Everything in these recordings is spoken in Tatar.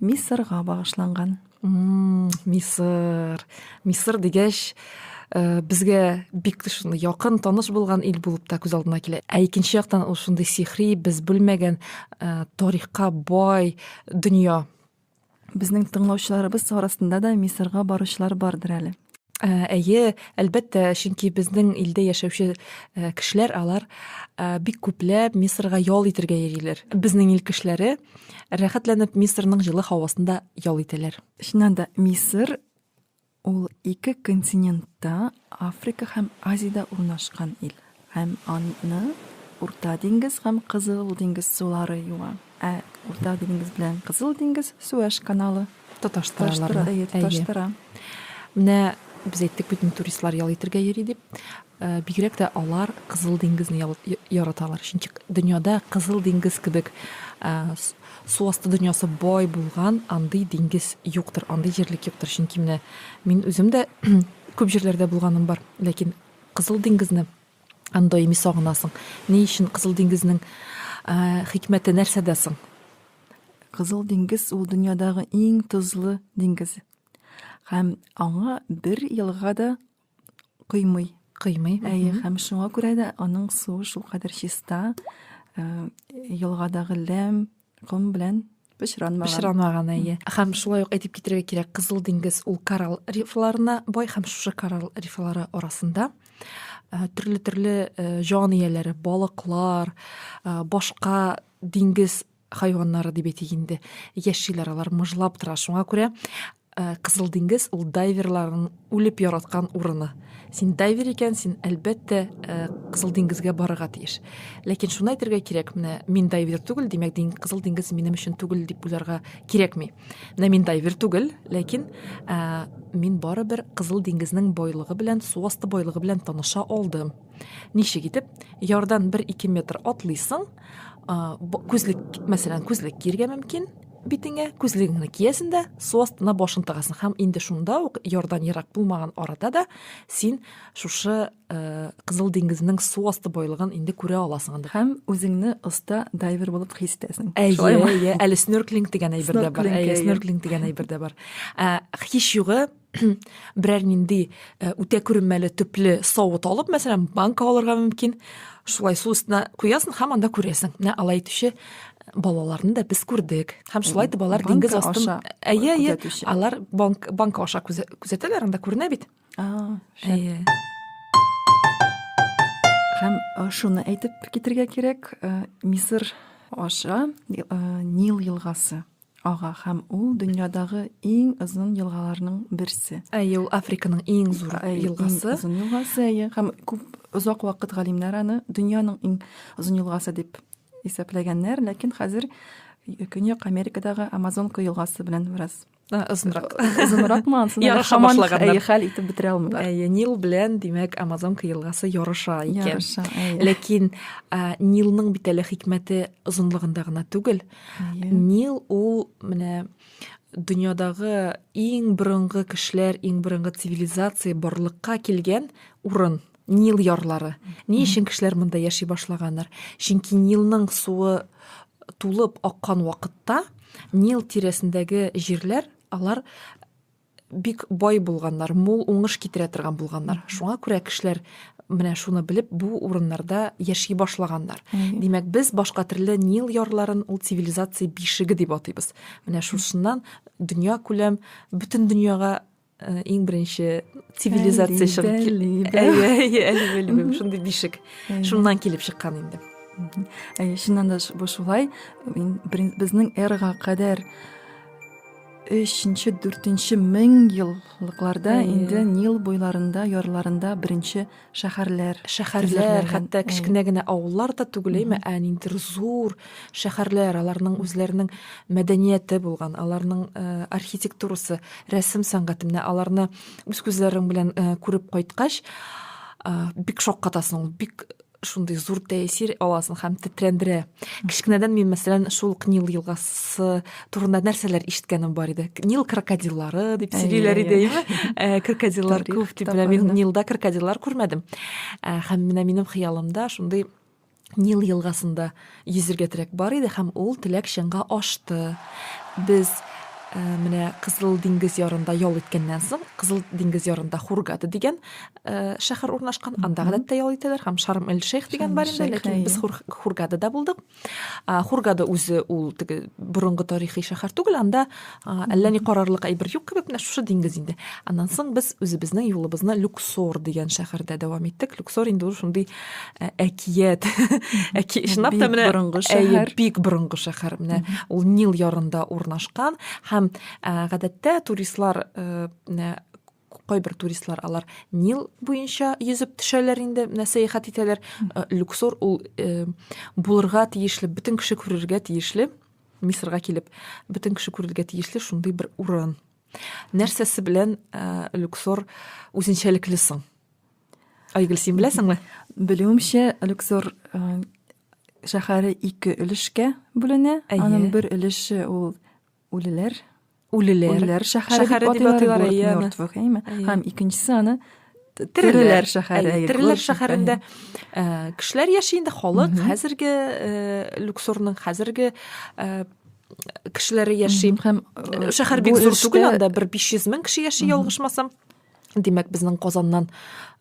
Мисырга багышланган. Мисыр. Мисыр дигәч, э, безгә бик шундый якын, таныш булган ил булып та күз алдына килә. Ә икенче яктан ул шундый сихри, без белмәгән э, тарихка бай дөнья. Безнең тыңлаучыларыбыз арасында да Мисырга баручылар бардыр әле. Ә, әйе, әлбәттә, чөнки безнең илдә яшәүче э, кешеләр алар э, бик күпләп Мисырга ял итәргә йөриләр. Безнең ил кешеләре рәхәтләнеп Мисырның җылы һавасында ял итәләр. Чыннан да, Мисыр ул ике континентта, Африка һәм Азиядә урнашкан ил. Һәм аны Урта диңгез һәм Кызыл диңгез сулары юа. Ә Урта диңгез белән Кызыл диңгез Суэш каналы тоташтыра. Әйе, тоташтыра. Менә без әйттек бит туристлар ял итәргә йөри дип. Э, бигрәк тә алар Кызыл диңгезне яраталар. Чөнки дөньяда Кызыл диңгез кебек э, су асты дөньясы бай булган андый диңгез юктыр, андый җирлек юктыр. Чөнки менә мин үзем дә күп җирләрдә булганым бар, ләкин Кызыл диңгезне даими сагынасың. Ни өчен Кызыл диңгезнең хикмәте нәрсәдә соң? Кызыл диңгез ул дөньядагы иң тозлы диңгез. Һәм аңа бер елга да кыймый. Кыймый. Әйе, һәм шуңа күрә дә аның суы шулкадәр чиста, елгадагы ләм, Ком белән пычранмаган. Пычранмаган, әйе. Һәм шулай ук әйтеп китерергә кирәк, Кызыл диңгез ул коралл рифларына бай һәм шушы коралл рифлары арасында төрле-төрле җан ияләре, балыклар, башка диңгез хайваннары дип әйтик инде, яшиләр алар, мыжлап тора. Шуңа күрә Ә, Кызыл диңгез ул дайверларның үлеп яраткан урыны. Син дайвер икән, син әлбәттә ә, Кызыл диңгезгә барырга тиеш. Ләкин шуны әйтергә кирәк, менә мин дайвер түгел, димәк, дин, Кызыл диңгез минем өчен түгел дип уйларга кирәкми. Менә мин дайвер түгел, ләкин ә, мин барыбер Кызыл диңгезнең бойлыгы белән, су асты бойлыгы белән таныша алдым. Ничек итеп? Ярдан 1-2 метр атлыйсың, күзлек мәсәлән күзлек киергә мөмкин битеңә күзлегеңне киясең дә су астына башын тыгасың һәм инде шунда ук ярдан ерак булмаган арада да син шушы ә, кызыл диңгезнең су асты байлыгын инде күрә аласың инде һәм үзеңне оста дайвер булып хис итәсең әйе әйе әле снорклинг дигән әйбер дә бар әйе снорклинг дигән әйбер дә бар ә, һич югы берәр нинди э, үтә күренмәле төпле савыт алып мәсәлән банка алырга мөмкин шулай су өстенә куясың һәм анда күрәсең менә алай итүче э, балаларны да без күрдек һәм шулай итеп алар диңгез астын әйе әйе алар банк банка аша күзәтәләр анда күренә бит әйе һәм э, шуны әйтеп китергә кирәк мисыр аша нил елгасы Ага һәм ул дөньядагы иң озын елгаларның берсе. Әйе, ул Африканың иң зур елгасы. Иң озын елгасы, әйе. Һәм күп озак вакыт галимнәр аны дөньяның иң озын елгасы дип исәпләгәннәр, ләкин хәзер Көньяк Америкадагы Амазонка елгасы белән бераз озынрак. Озынракмы ансын? Ярыша башлаганнар. Хәл итеп бетерә алмыйлар. Әйе, Нил белән, димәк, Амазонка елгасы ярыша икән. Ярыша, әйе. Ләкин Нилның бит әле хикмәте озынлыгында гына түгел, Нил ул менә дөньядагы иң борынгы кешеләр, иң борынгы цивилизация барлыкка килгән урын. Нил ярлары. Ни өчен кешеләр монда яши башлаганнар? Чөнки Нилның суы тулып аккан вакытта Нил тирәсендәге җирләр алар бик бай булганнар, мул уңыш китерә торган булганнар. Шуңа күрә кешеләр менә шуны белеп бу урыннарда яши башлаганнар. Димәк, без башка төрле Нил ярларын ул цивилизация бишеге дип атыйбыз. Менә шушыннан дөнья күләм бөтен дөньяга э, иң беренче цивилизация чыгып килде. Шундый бишек. Шуннан килеп чыккан инде. Чыннан да бу шулай. Безнең эрага кадәр өченче дүртенче мең еллыкларда инде нил буйларында ярларында беренче шәһәрләр шәһәрләр хәтта кечкенә генә авыллар да түгел әйме ә ниндидер зур шәһәрләр аларның үзләренең мәдәнияте булган аларның э, архитектурасы рәсем сәнгате менә аларны үз күзләрең белән э, күреп кайткач э, бик шаккатасың бик шундый зур тәэсир аласың һәм тетрәндерә. Кечкенәдән мин, мәсәлән, шул Нил елгасы турында нәрсәләр ишеткәнем бар иде. Нил крокодиллары дип сөйлиләр иде, әйеме? Э, крокодиллар күп дип, мин Нилда крокодиллар күрмәдем. Э, һәм менә минем хыялымда шундый Нил елгасында Йөзергә теләк бар иде һәм ул теләк чынга ашты. Без э, менә Кызыл диңгез ярында ял иткәннән соң, Кызыл диңгез ярында Хургада дигән э, шәһәр урнашкан. Анда гадәттә ял итәләр һәм Шарм эль Шейх дигән бар инде, ләкин без Хургадада булдык. Хургада үзе ул теге борынгы тарихи шәһәр түгел, анда әллә ни карарлык әйбер юк кебек менә шушы диңгез инде аннан соң без үзебезнең юлыбызны люксор дигән шәһәрдә дәвам иттек люксор инде ул шундый э, әкият әки чынлап та менә борынгы шәһәр бик борынгы шәһәр менә ул нил ярында урнашкан һәм э, гадәттә туристлар э, кайбер туристлар алар нил буенча йөзеп төшәләр инде менә сәяхәт итәләр э, люксор ул э, булырга тиешле бөтен кеше күрергә тиешле мисырга килеп бөтен кеше күрергә тиешле шундый бер урын нәрсәсе белән э, люксор үзенчәлекле соң айгөл син беләсеңме белүемчә люксор шәһәре ике өлешкә бүленә аның бер өлеше ул үлеләр үлеләр үлеләр шәһәре дип атыйлар мертвых әйме һәм икенчесе аны тереләр шәһәре тереләр шәһәрендә кешеләр яши инде халык хәзерге люксорның хәзерге кешеләре яши һәм шәһәр бик зур түгел анда бер биш йөз мең кеше яши ялгышмасам Димәк, безнең Казаннан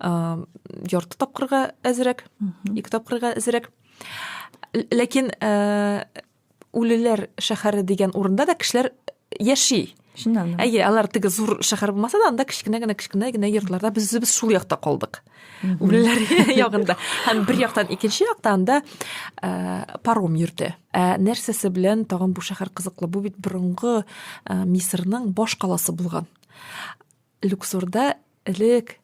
ә, ярты тапкырга әзрәк, ике тапкырга әзрәк. Ләкин ә, Үлеләр шәһәре дигән урында да кешеләр яши. Чыннан. Әйе, алар теге зур шәһәр булмаса да, анда кечкенә генә кечкенә генә йортларда без без шул якта калдык. Үлеләр ягында. Һәм бер яктан икенче якта анда э, паром йөрде. Ә нәрсәсе белән тагын бу шәһәр кызыклы? Бу бит борынгы э, Мисырның баш каласы булган. Люксорда Элек,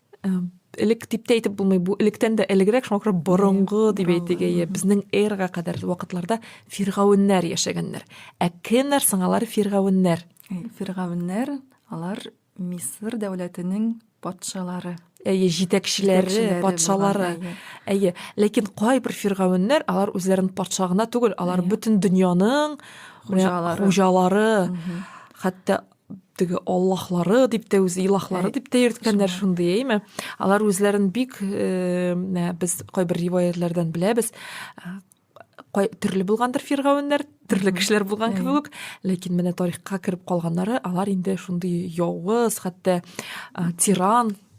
элек дип тә әйтеп булмый, бу электән дә элегрәк, шуңа күрә борынгы дип әйтик, әйе, безнең эрга кадәр вакытларда фиргавеннәр яшәгәннәр. Ә кемнәр соң алар фиргавеннәр? Фиргавеннәр, алар Мисыр дәүләтенең патшалары әйе җитәкчеләре патшалары әйе ләкин кайбер фиргавеннәр алар үзләрен патша гына түгел алар бөтен дөньяның хуҗалары хәтта теге аллаһлары дип тә үзе илаһлары э, дип тә йөрткәннәр шундый әйме алар үзләрен бик э, без кайбер риваятлардан беләбез э, төрле булгандыр фиргавеннәр төрле кешеләр булган кебек үк ләкин менә тарихка кереп калганнары алар инде шундый явыз хәтта тиран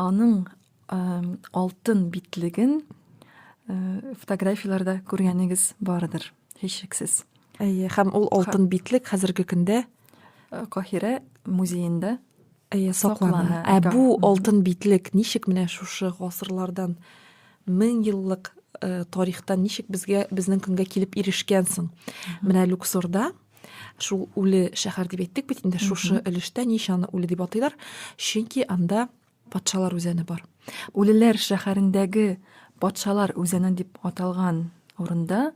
Аның алтын битлеген фотографияләрдә күргәнегез бардыр, һичшиксез. Әйе, һәм ул алтын битлек хәзерге көндә Каһирә музеенда әйе саклана. Ә бу алтын битлек ничек менә шушы гасырлардан мең еллык тарихтан ничек безгә безнең көнгә килеп ирешкән соң? Менә Люксорда Шул үле шәһәр дип әйттек бит инде, шушы өлештә ничә аны үле дип атыйлар, чөнки анда патшалар үзәне бар. Үлеләр шәһәрендәге патшалар үзәне дип аталган урында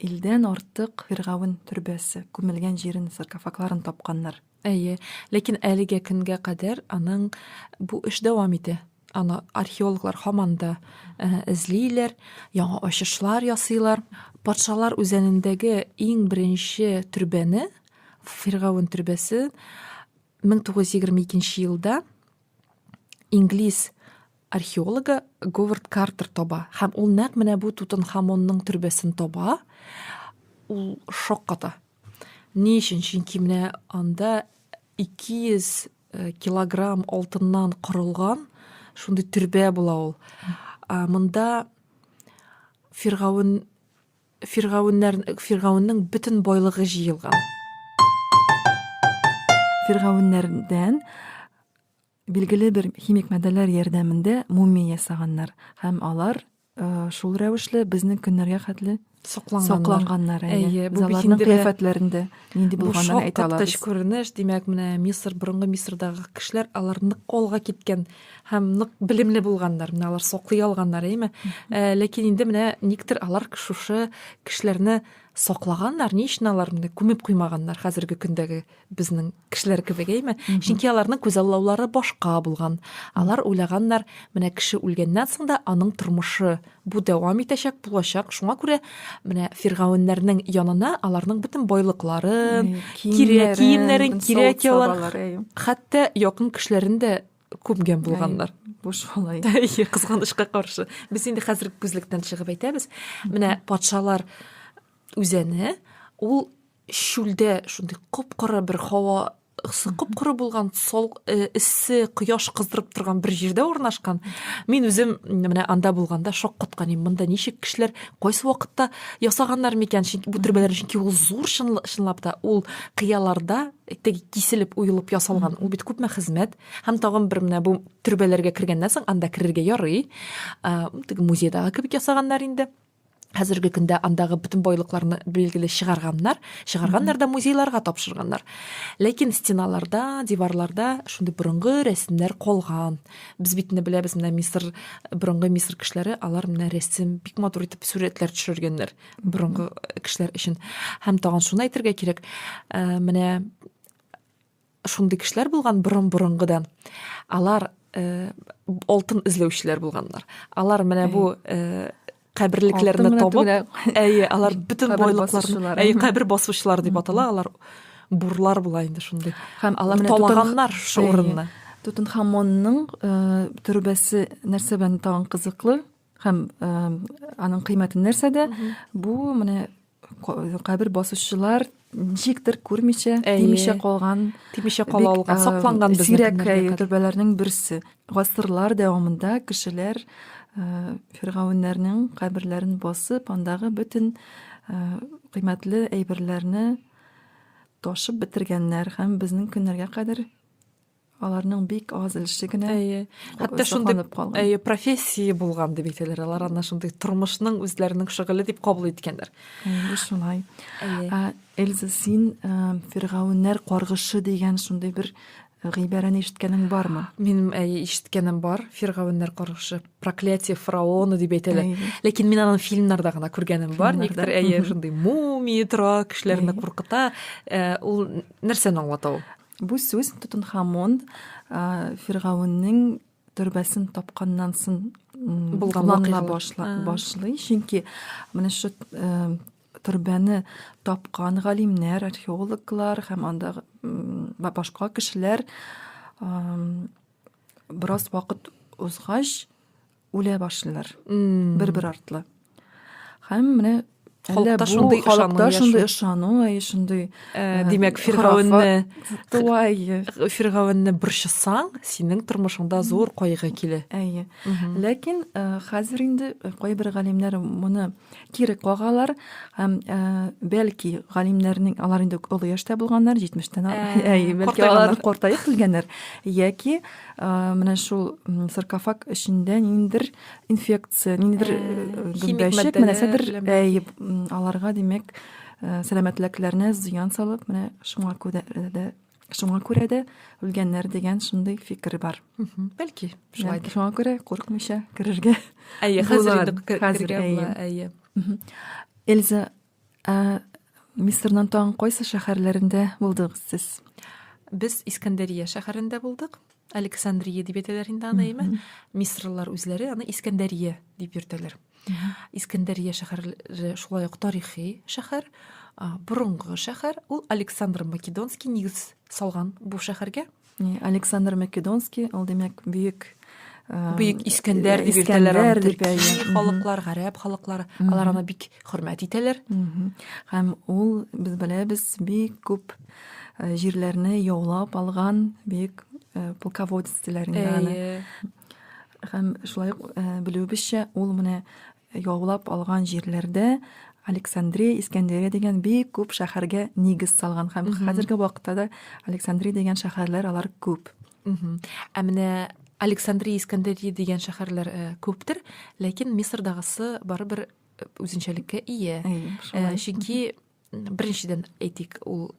илдән артык фиргавен төрбәсе күмелгән җирен саркофагларын тапканнар. Әйе, ләкин әлегә көнгә кадәр аның бу эш дәвам итә. Аны археологлар һаман да эзлиләр, яңа ачышлар ясыйлар. Патшалар үзәнендәге иң беренче төрбәне, Фиргавен төрбәсе 1922 елда инглиз Археологы Говард Картер таба һәм ул нәкъ менә бу Тутанхамонның төрбәсен таба. Ул шок ката. Ни өчен? Чөнки менә анда 200 э, килограмм алтыннан корылган шундый төрбә була ул. Монда Фиргавен фиргавеннәр фиргавеннең бөтен байлыгы җыелган фиргавеннәрдән Билгеле бер химик матдәләр ярдәмендә мумия ясаганнар һәм алар шул рәвешле безнең көннәргә хәтле сакланганнар. Әйе, бу аларның кыяфәтләрендә нинди булганын әйтә алабыз. Шактыш күренеш, димәк, менә Мисыр, борынгы Мисырдагы кешеләр алар нык колга киткән һәм нык белемле булганнар. Менә алар саклый алганнар, әйме? Э, ләкин инде менә никтер алар шушы кешеләрне саклаганнар, ни өчен алар менә күмеп куймаганнар хәзерге көндәге безнең кешеләр кебек әйме чөнки аларның күзаллаулары башка булган алар уйлаганнар менә кеше үлгәннән соң да аның тормышы бу дәвам итәчәк булачак шуңа күрә менә фиргавеннәрнең янына аларның бөтен байлыкларын кирәк киемнәрен кирәк явын хәтта якын кешеләрен дә күмгән булганнар буш алай кызганычка каршы без инде хәзерге күзлектән чыгып әйтәбез менә патшалар үзәне ул чүлдә шундый коп-коры бер һава ысы коп-коры булган сол э, эссе кояш кыздырып торган бер җирдә урнашкан мин үзем менә анда булганда шок каткан идем монда ничек кешеләр кайсы вакытта ясаганнар микән чөнки бу төрбәләр чөнки ул зур чынлап та ул кыяларда теге киселеп уелып ясалган ул бит күпме хезмәт һәм тагын бер менә бу төрбәләргә кергәннән соң анда керергә ярый теге музейдагы кебек ясаганнар инде хәзерге көндә андагы бөтен байлыкларны билгеле чыгарганнар чыгарганнар да музейларга тапшырганнар ләкин стеналарда диварларда шундый борынгы рәсемнәр калган без бит инде беләбез менә мисыр борынгы мисыр кешеләре алар менә рәсем бик матур итеп сурәтләр төшергәннәр борынгы кешеләр өчен һәм тагын шуны әйтергә кирәк ә, менә шундый кешеләр булган борын борынгыдан алар э, алтын эзләүчеләр булганнар алар менә бу э, каберлекләрне табып әйе алар бөтен байлыкларны әйе кабер басучылар дип атала алар бурлар була инде шундый һәм алар талаганнар шул урынны тутанхамонның э, төрбәсе нәрсә белән тагын кызыклы Һәм ә, аның кыйммәте нәрсәдә? Бу менә кабер басучылар ничектер күрмичә, тимичә калган, тимичә кала алган, сакланган без сирәк төрбәләрнең берсе. Гасырлар дәвамында кешеләр ә, фиргавеннәрнең каберләрен басып, андагы бөтен ә, кыйммәтле әйберләрне ташып бетергәннәр һәм безнең көннәргә кадәр аларның бик аз өлеше генә әйе хәтта шундый әйе профессия булган дип әйтәләр алар ана шундый тормышның үзләренең шөгыле дип кабул иткәннәр шулай эльза син фиргавеннәр каргышы дигән шундый бер гыйбарәне ишеткәнең бармы минем әйе ишеткәнем бар фиргавеннәр каргышы проклятие фараона дип әйтәләр ләкин мин аны фильмнарда гына күргәнем бар никтер әйе шундый мумия тора кешеләрне куркыта ул нәрсәне аңлата ул Бу сүз Тутанхамон Фиргавеннең төрбәсен тапканнан сон булганлана башлый. Чөнки менә шу төрбәне тапкан галимнәр, археологлар һәм анда башка кешеләр бераз вакыт узгач үлә башлыйлар бер бер артлы һәм менә халыкта шундый халыкта шундый ышану әй шундый э, димәк фиргавенне фиргавенне борчысаң синең тормышыңда зур кайгы килә әйе ләкин э, хәзер инде э, кайбер галимнәр моны кире кагалар һәм ә, бәлки галимнәрнең алар инде олы яшьтә булганнар җитмештән әй бәлки алар картаеп килгәннәр яки менә шул саркофаг эчендә ниндидер инфекция ниндидер гөмбәчек менә сәдер әй аларга димәк сәламәтлекләренә зыян салып менә шуңа күрә дә Шуңа күрә дә үлгәннәр дигән шундый фикер бар. Бәлки, шулай. Шуңа күрә курыкмыйча керергә. Әйе, хәзер хәзер әйе. Әйе. Эльза, ә Мисырның тагын кайсы шәһәрләрендә булдыгыз сез? Без Искәндәрия шәһәрендә булдык. Александрия дип әйтәләр инде аны, әйме? Мисырлылар үзләре аны Искәндәрия дип йөртәләр. искәндәрия шәһәре шулай ук тарихи шәһәр борынгы шәһәр ул александр македонский нигез салган бу шәһәргә александр македонский ул димәк бөек бөек искәндәр дип йөртәләр халыклар гарәп халыклары алар аны бик хөрмәт итәләр һәм ул без беләбез бик күп җирләрне яулап алган бөек полководец диләр инде аны Һәм шулай ук белүебезчә, ул менә яулап алган җирләрдә Александрия, Искәндерия дигән бик күп шәһәргә нигез салган һәм хәзерге вакытта да Александрия дигән шәһәрләр алар күп. Ә менә Александрия, Искәндерия дигән шәһәрләр э, күптер, ләкин Мисырдагысы барыбер э, үзенчәлеккә ия. Э, чөнки беренчедән әйтик, ул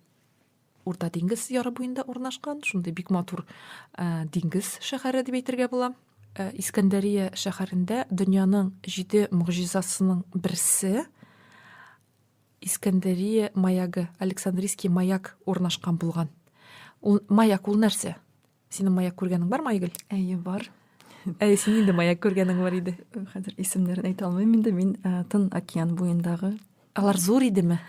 Урта диңгез яры буенда урнашкан, шундый бик матур э, диңгез шәһәре дип әйтергә була. Э, Искәндәрия шәһәрендә дөньяның җиде могҗизасының берсе Искәндәрия маягы, Александрийский маяк урнашкан булган. Ул маяк ул нәрсә? Синең маяк күргәнең бармы, Айгөл? Әйе, бар. Әй, син инде маяк күргәнең бар иде. Хәзер исемнәрен әйтә алмыйм инде, мин э, Тын океан буендагы. Алар зур идеме?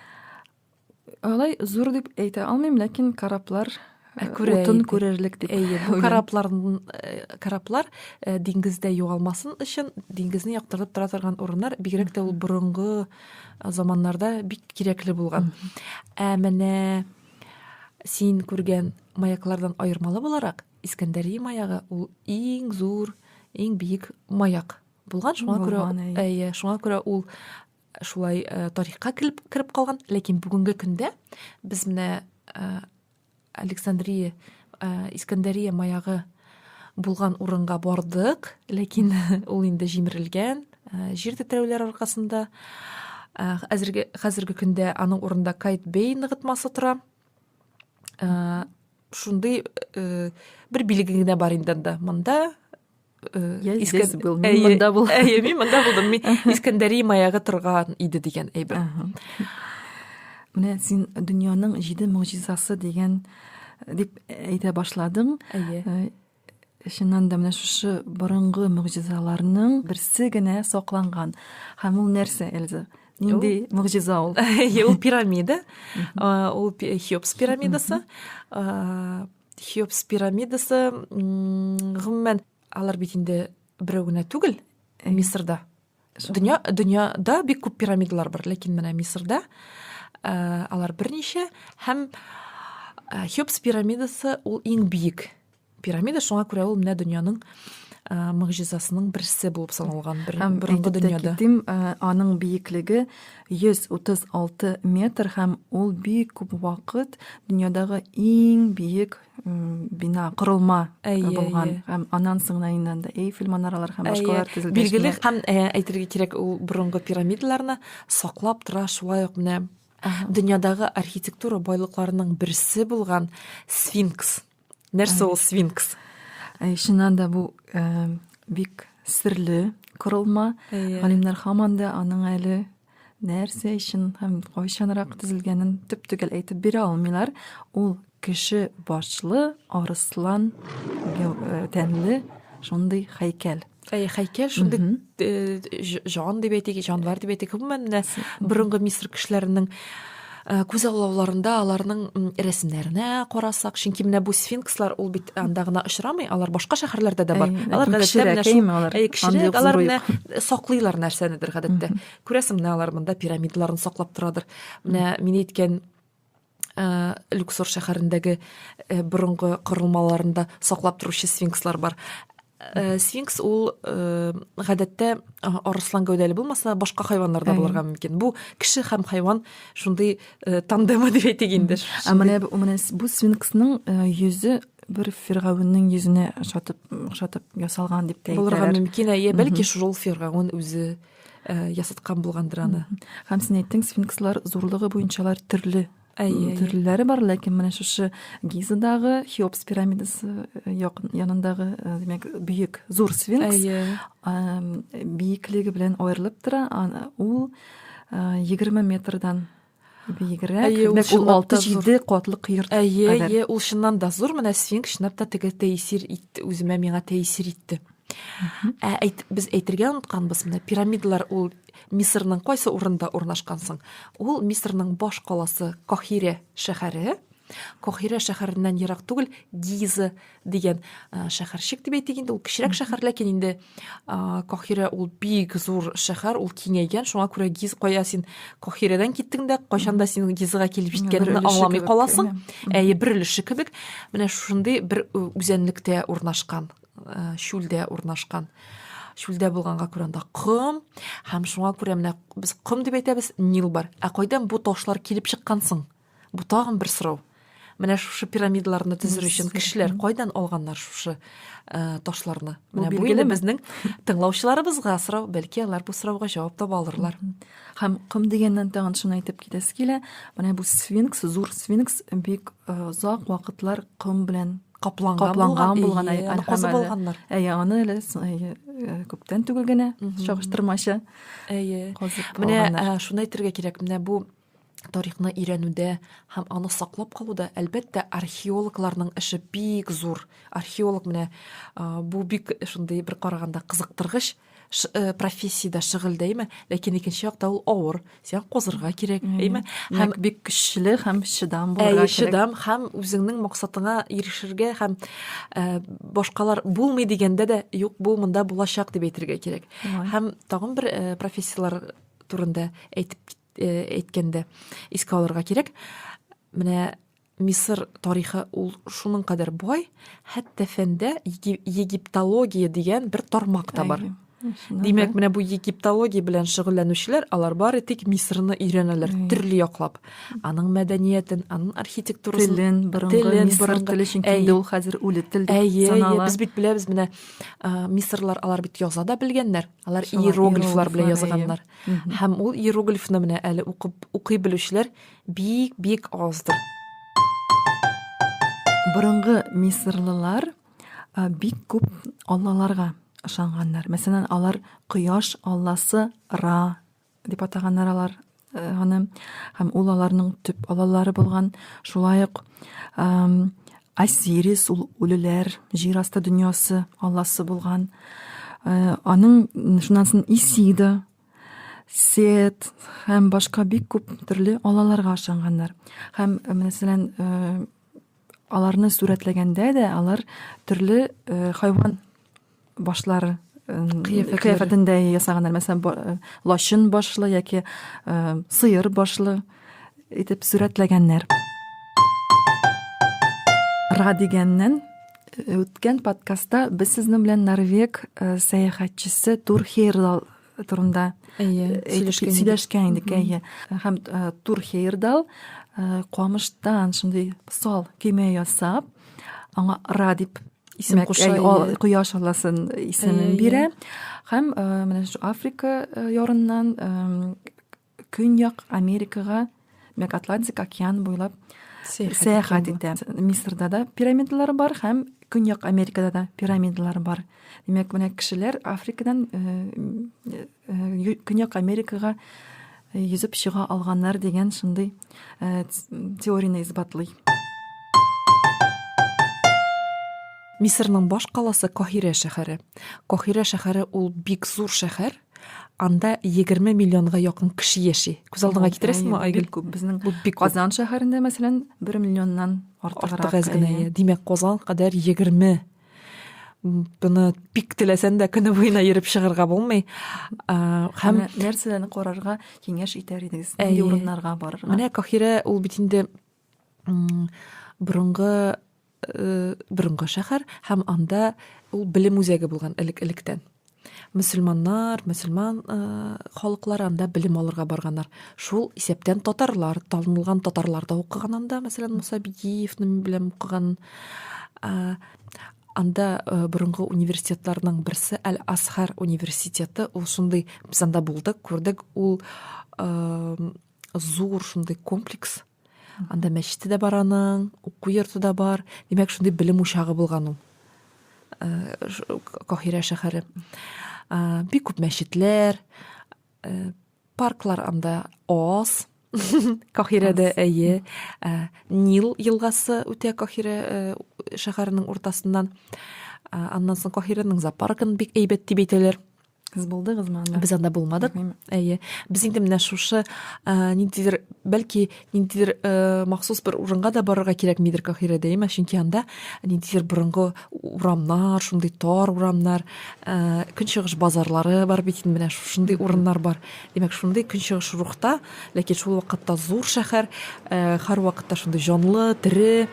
Алай зур дип әйтә алмыйм, ләкин кораблар Ә э, күрә утын күрерлек дип. Әйе, бу кораблар э, кораблар э, диңгездә югалмасын өчен диңгезне яктыртып тора торган урыннар бигрәк тә ул борынгы заманнарда бик кирәкле булган. Ә менә син күргән маяклардан аермалы буларак Искәндәрия маягы ул иң зур, иң биек маяк булган. Шуңа күрә әйе, шуңа күрә ул шулай э, тарихка килеп кереп калган ләкин бүгенге көндә без менә э, александрия э, искәндәрия маягы булган урынга бардык ләкин ул инде җимерелгән э, җир тетрәүләр аркасында э, әзерге хәзерге көндә аның урында кайт бей ныгытмасы тора э, шундый э, бер билге генә бар инде анда монда Э, я здесь был мин мында булдым әйе мин мында булдым мин искәндәри маяга торган иде дигән әйбер менә син дөньяның җиде могҗизасы дигән э, дип әйтә башладың әйе э, чыннан да менә шушы борынгы могҗизаларның берсе генә сакланган һәм ул нәрсә эльза нинди могҗиза ул ул пирамида ул хеопс пирамидасы хеопс пирамидасы гомумән алар бит инде берәү генә түгел мисырда дөнья дөньяда бик күп пирамидалар бар ләкин менә мисырда э, алар берничә һәм э, хеопс пирамидасы ул иң биек пирамида шуңа күрә ул менә дөньяның э, могҗизасының берсе булып саналган бер, һәм борынгы дөньяда китим, аның биеклеге 136 метр һәм ул бик күп вакыт дөньядагы иң биек бина, корылма булган. Һәм аннан соң иннән дә Эйфель манаралар һәм башкалар төзелгән. Билгеле һәм әйтергә кирәк, ул борынгы пирамидаларны саклап тора, шулай ук менә дөньядагы архитектура байлыкларының берсе булган Сфинкс нәрсә ул свинкс чыннан да бу бик серле корылма галимнәр һаман да аның әле нәрсә өчен һәм кайчанрак төзелгәнен төп төгәл әйтеп бирә алмыйлар ул кеше башлы арыслан тәнле шундый һәйкәл Әй, хәйкәл шундый э, җан дип әйтик, җанвар дип әйтик, гомумән менә борынгы Мисыр кешеләренең э, күз аллауларында аларның рәсемнәренә карасак, чөнки менә бу сфинкслар ул бит анда гына очрамый, алар башка шәһәрләрдә дә бар. Алар гадәттә менә шул кешеләр алар менә саклыйлар нәрсәнедер гадәттә. Күрәсең, менә алар монда пирамидаларын саклап торадыр. Менә мин әйткән Э, люксор шәһәрендәге э, борынгы корылмаларында саклап торучы сфинкслар бар э, сфинкс ул гадәттә арыслан гәүдәле булмаса башка хайваннар да булырга мөмкин бу кеше һәм хайван шундый тандемы дип әйтик инде ә менә менә бу сфинксның йөзе бер фиргавеннең йөзенә ошатып ошатып ясалган дип тә әйтәләр булырга мөмкин әйе бәлки шул фиргавен үзе э, ясаткан булгандыр аны һәм син әйттең сфинкслар зурлыгы буенчалар төрле әйе төрлеләре бар ләкин менә шушы гизадагы хеопс пирамидасы э, янындагы э, димәк бөек зур сфинкс биеклеге белән аерылып тора ул егерме метрдан биегрәк димәк ул алты җиде катлы кыер әйе әйе ул чыннан да зур менә сфинкс чынлап та теге тәэсир итте үземә миңа тәэсир итте ә әйт, без әйтергә онытканбыз менә пирамидалар ул мисырның кайсы урында урнашкан соң ул мисырның баш каласы кахире шәһәре Кохира шәһәреннән ерак түгел Гиза дигән шәһәрчек дип әйтик инде, ул кечерәк шәһәр, ләкин инде Кохира ул бик зур шәһәр, ул киңәйгән, шуңа күрә Гиз кая син Кохирадан киттең дә, кайчан да син Гизага килеп җиткәнеңне аңламый каласың. Әйе, бер өлеше кебек. Менә шундый бер үзәнлектә урнашкан, чүлдә урнашкан чүлдә булганга күрә анда ком һәм шуңа күрә менә без ком дип әйтәбез нил бар ә кайдан бу ташлар килеп чыккан соң Бу тагын бер сорау. Менә шушы пирамидаларны төзер өчен кешеләр кайдан алганнар шушы э, ташларны? Менә бу инде безнең тыңлаучыларыбызга сорау, бәлки алар бу сорауга җавап таба алырлар. Һәм ком дигәннән тагын шуны әйтеп китәсе килә. Менә бу сфинкс, зур сфинкс бик э, озак вакытлар ком белән капланган, капланган булган аны булганнар. Әйе, аны әле э, күптән түгел генә чагыштырмача. Әйе. Менә э, шуны әйтергә кирәк. Менә бу тарихны өйрәнүдә һәм аны саклап калуда, әлбәттә, археологларның эше бик зур. Археолог менә бу бик шундый бер караганда кызыктыргыч э, профессиядә шөгыль дәйме, ләкин икенче якта ул авыр. Сиңа козырга кирәк, әйме? Һәм бик көчле һәм чыдам булырга кирәк. Чыдам һәм үзеңнең максатыңа ирешергә һәм э, башкалар булмый дигәндә дә юк, бу монда булачак дип әйтергә кирәк. Һәм тагын бер э, профессияләр турында әйтеп э, әйткәндә искә алырга кирәк менә мисыр тарихы ул шуның кадәр бай хәтта фәндә египтология дигән бер тармак та бар димәк менә бу египтология белән шөгыльләнүчеләр алар бары тик мисырны өйрәнәләр төрле яклап аның мәдәниятен аның архитектурасын телен борынгы мисыр теле чөнки инде ул хәзер үле тел дип санала без бит беләбез менә мисырлар алар бит яза да белгәннәр алар иероглифлар белән язганнар Һәм ул иероглифны менә әле укып укый белүчеләр бик бик аздыр. Борынгы мисырлылар бик күп аллаларга ышанганнар. Мәсәлән, алар кояш алласы Ра дип атаганнар алар аны һәм ул аларның төп аллалары булган. Шулай ук Осирис ул үлеләр җир асты дөньясы алласы булган. Э, аның шуннан соң Исида, Сет һәм башка бик күп төрле аллаларга ышанганнар. Һәм э, мәсәлән, э, аларны сурәтләгәндә дә алар төрле хайван башлары кыяфәтен дә ясаганнар мәсәлән э, лачын башлы яки э, сыер башлы итеп сурәтләгәннәр ра дигәннән э, үткән подкастта без сезнең белән норвег сәяхәтчесе тур хейрдал турында әйе сөйләшкән идек әйе һәм тур хейердал камыштан шундый сал көймә ясап аңа ра дип исем куша кояш алласын исемен бирә һәм менә шу африка ярыннан Көньяк Америкага, мәк Атлантик океан буйлап сәяхәт итә. Мисырда да пирамидалар бар һәм Көньяк Америкада да пирамидалар бар. Димәк, менә кешеләр Африкадан э, э, Көньяк Америкага э, йөзеп чыга алганнар дигән шундый теорияне исбатлый. Мисырның баш каласы Кахирә шәһәре. Кахирә шәһәре ул бик зур шәһәр, анда егерме миллионга якын кеше яши күз алдыңа китерәсеңме айгөл күп безнең бик казан шәһәрендә мәсәлән бер миллионнан артыграк әз генә димәк казан кадәр егерме быны бик теләсәң дә көне буена йөреп чыгарга булмый һәм нәрсәләрне карарга киңәш итәр идегез нинди урыннарга барырга менә кахирә ул бит инде борынгы э, борынгы шәһәр һәм анда ул белем үзәге булган элек электән мөселманнар мөселман э, халыклар анда белем алырга барганнар шул исәптән татарлар танылган татарлар да укыган анда мәсәлән муса бигиевнең белән укыган э, анда э, борынгы университетларның берсе әл асхар университеты ул шундый без анда булдык күрдек ул э, зур шундый комплекс анда мәчете дә бар аның уку йорты да бар димәк шундый белем учагы булган ул э, каһирә шәһәре э, бик күп мәчетләр э, парклар анда аз каһирәдә әйе нил елгасы үтә каһирә шәһәренең уртасыннан аннан соң каһирәнең зоопаркын бик әйбәт дип әйтәләр Сез булдыгызмы анда? Без анда булмадык. Әйе. Без инде менә шушы э, ниндидер, бәлки ниндидер э, махсус бер урынга да барырга кирәкмидер Кахирә дәймә, чөнки анда ниндидер борынгы урамнар, шундый тар урамнар, э, көнчыгыш базарлары бар бит инде менә шушындый урыннар бар. Димәк, шундый көнчыгыш рухта, ләкин шул вакытта зур шәһәр, һәр вакытта шундый җанлы, тере,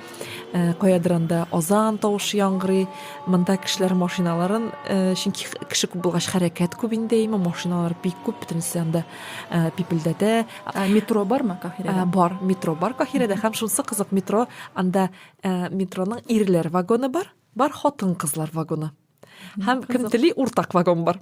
Э, каядыр анда азан тавышы яңгырый монда кешеләр машиналарын э, чөнки кеше күп булгач хәрәкәт күп инде имә машиналар бик күп бөтенесе анда э, пипелдәтә метро бармы каһирәдә бар метро бар каһирәдә һәм шунысы кызык метро анда метроның ирләр вагоны бар бар хатын кызлар вагоны һәм кем тели уртак вагон бар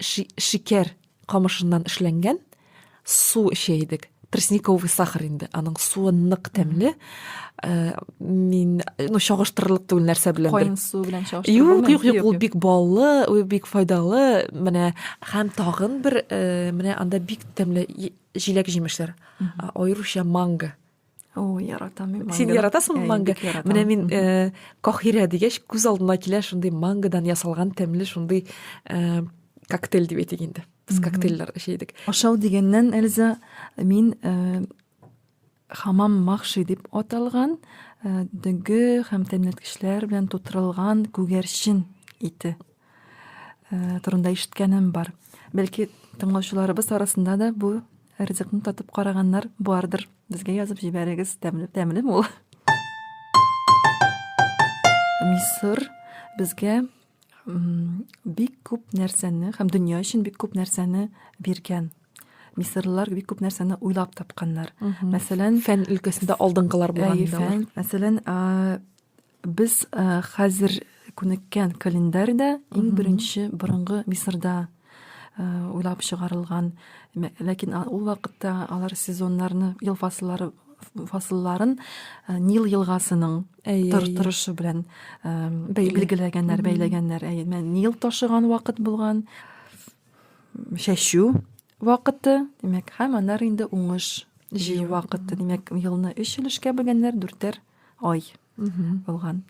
шикәр камышыннан эшләнгән су эчә идек тростниковый сахар инде аның суы нык тәмле э, мин ну чагыштырырлык түгел нәрсә белән кайын су белән чагыштырып юк юк юк ул бик баллы ул бик файдалы менә һәм тагын бер э, менә анда бик тәмле җиләк җимешләр аеруча манго О, яратам мин Син яратасыңмы манго? Менә мин э, кахирә дигәч, күз алдына килә шундый мангодан ясалган тәмле шундый э, коктейль дип әйтик инде. Без коктейльләр эчә идек. Ашау дигәннән, Эльза, мин э, хамам махши дип аталган э, дөге һәм тәмләткечләр белән тутырылган күгәрчен ите э, турында ишеткәнем бар. Бәлки тыңлаучыларыбыз арасында да бу ризыкны татып караганнар бардыр. Безгә язып җибәрегез, тәмле, тәмле ул. Мисыр безгә бик күп нәрсәне һәм дөнья өчен бик күп нәрсәне биргән мисырлылар бик күп нәрсәне уйлап тапканнар мәсәлән фән өлкәсендә алдыңгылар булган мәсәлән Без хәзер күнеккән календарь да иң беренче борынгы Мисырда уйлап чыгарылган. Ләкин ул вакытта алар сезоннарны, ел фасыллары фасылларын э, Нил елгасының торышы белән э, билгеләгәннәр, бәйләгәннәр. Әйе, Нил ташыган вакыт булган чәчү вакыты, димәк, һәм аннары инде уңыш җыю вакыты. Димәк, елны өч өлешкә бөлгәннәр, дүртәр ай булган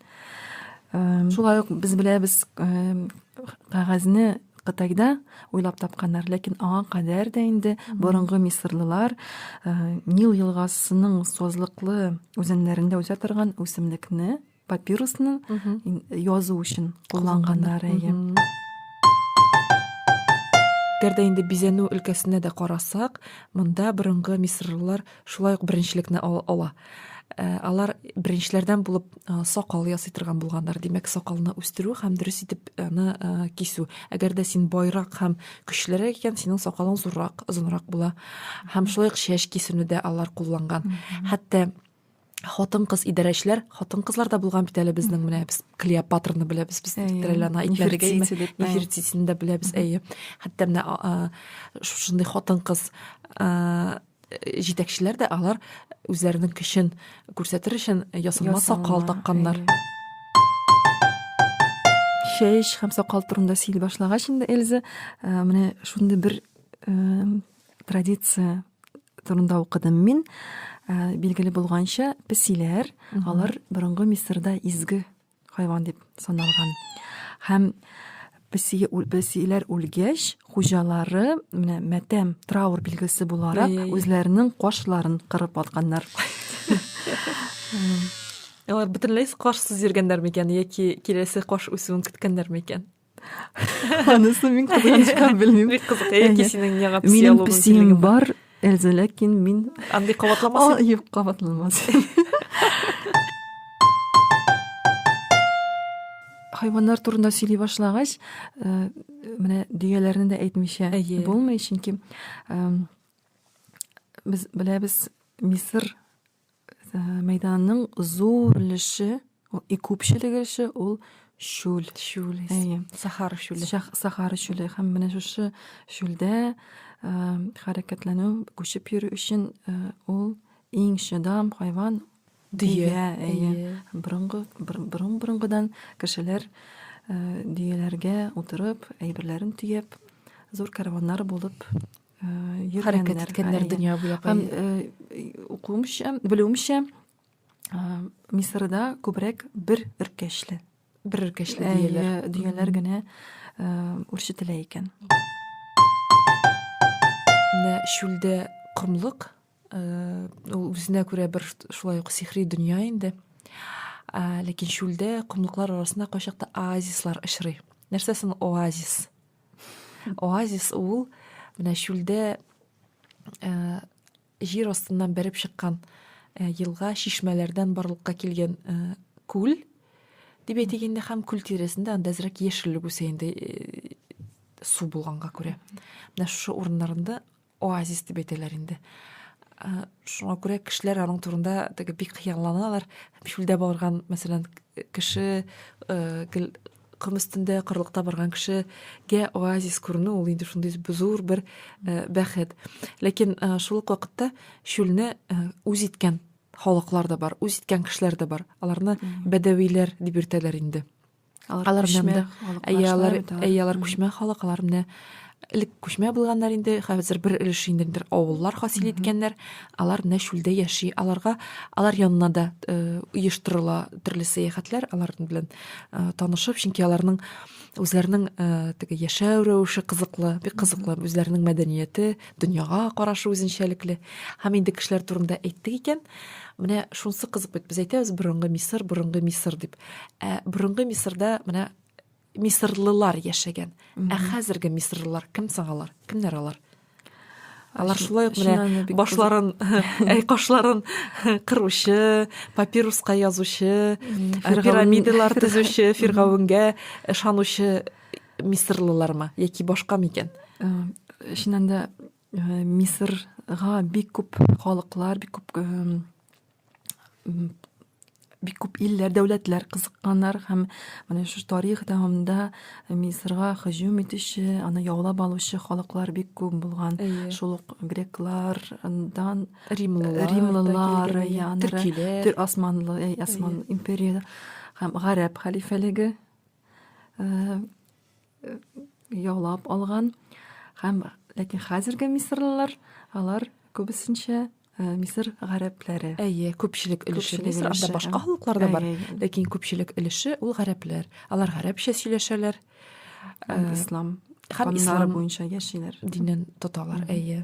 шулай ук без беләбез кәгазьне кытайда уйлап тапканнар ләкин аңа кадәр дә инде борынгы мисырлылар нил елгасының созлыклы үзәннәрендә үсә торган үсемлекне папирусны язу өчен кулланганнар әйе әгәр дә инде бизәнү өлкәсенә дә карасак монда борынгы мисырлылар шулай ук беренчелекне ала э, алар беренчеләрдән булып э, сакал ясый торган булганнар димәк сакалны үстерү һәм дөрес итеп аны э, кисү әгәр дә син байрак һәм көчлерәк икән синең сакалың зуррак озынрак була һәм шулай ук чәч кисүне дә алар кулланган хәтта хатын-кыз идарәчеләр, хатын-кызлар да булган бит әле безнең менә без Клеопатраны беләбез, без Треллана әйтмәдек, Нефертитине дә беләбез, әйе. Хәтта менә шушындый хатын-кыз җитәкчеләр дә алар үзләренең көчен күрсәтер өчен ясалма сакал такканнар. Шеш һәм сакал турында сөйли башлагач инде Эльза, менә шундый бер традиция турында укыдым мин ә, билгеле булганча песиләр алар борынгы мисырда изге хайван дип саналган һәм песи песиләр үлгәч хуҗалары менә мәтәм траур билгесе буларак үзләренең кашларын кырып алганнар алар бөтенләй кашсыз йөргәннәр микән яки киләсе каш үсүен көткәннәр микән Анысы мин кызганычка белмим. Бик кызык, яки синең миңа психология. Минем психиям бар, Эльза, ләкин мин... Андый кабатламас? Юк, кабатламас. Хайваннар турында сөйли башлагач, э, менә дигәләрне дә әйтмичә булмый, чөнки э, без беләбез, Мисыр мәйданның зур өлеше и күпчелеге эше ул шүл шүл әйе сахара шүле сахара шүле һәм менә шушы шүлдә э, хәрәкәтләнү күчеп йөрү өчен э, ул иң шыдам хайван дөя әйе борынгы борын борынгыдан кешеләр э, дөяләргә утырып әйберләрен төяп зур караваннар булып хәрәкәт иткәннәр дөнья буйлап һәм укуымча белүемчә мисырда күбрәк бер өркәчле бер өркәчле дөяләр дөяләр генә үрчетелә икән менә чүлдә комлык ул үзенә күрә бер шулай ук сихри дөнья инде ләкин чүлдә комлыклар арасында кайчакта оазислар очрый нәрсә соң оазис оазис ул менә чүлдә җир астыннан бәреп чыккан елга чишмәләрдән барлыкка килгән күл дип әйтик инде һәм күл тирәсендә анда әзрәк яшеллек үсә инде су булганга күрә менә шушы урыннарында оазис дип әйтәләр инде ә, шуңа күрә кешеләр аның турында теге бик хыялланалар чүлдә барган мәсәлән кеше ә, гел ком өстендә кырлыкта барган кешегә оазис күренү ул инде шундый зур бер ә, бәхет ләкин ә, шул ук вакытта чүлне ә, үз иткән халыклар да бар үз иткән кешеләр дә бар аларны бәдәвиләр дип йөртәләр инде алар күчмә әйе алар әйе алар күчмә халык алар менә элек күчмә булганнар инде хәзер бер өлеш инде бер авыллар хасил иткәннәр алар менә чүлдә яши аларга алар янына да э, оештырыла төрле сәяхәтләр алар белән э, танышып чөнки аларның үзләренең э, теге яшәү рәвеше кызыклы бик кызыклы үзләренең мәдәнияте дөньяга карашы үзенчәлекле һәм инде кешеләр турында әйттек икән менә шунысы кызык бит без әйтәбез борынгы мисыр борынгы мисыр дип ә борынгы мисырда менә мисырлылар яшәгән ә хәзерге мисырлылар кем соң алар кемнәр алар алар шулай ук менә башларын әй кашларын кыручы папируска язучы пирамидалар төзүче фиргавенгә ышанучы мисырлылармы яки башка микән чыннан да Э, Мисырга бик күп халыклар, бик күп э, бик күп илләр, дәүләтләр кызыкканнар һәм менә шушы тарих дәвамында Мисырга һөҗүм итүче, аны яулап алучы халыклар бик күп булган. Шул ук греклардан римлылар, римлылар, янры, төркиләр, төр османлы, әй, осман империясе һәм гарәп халифәлеге. Э, э, яулап алган һәм ләкин хәзерге мисырлылар алар күбесенчә э, мисыр гарәпләре әйе күпчелек өлеше мисыр анда башка халыклар да бар ләкин күпчелек өлеше ул гарәпләр алар гарәпчә сөйләшәләр һәм э, ислам һәм ислам буенча яшиләр динен тоталар әйе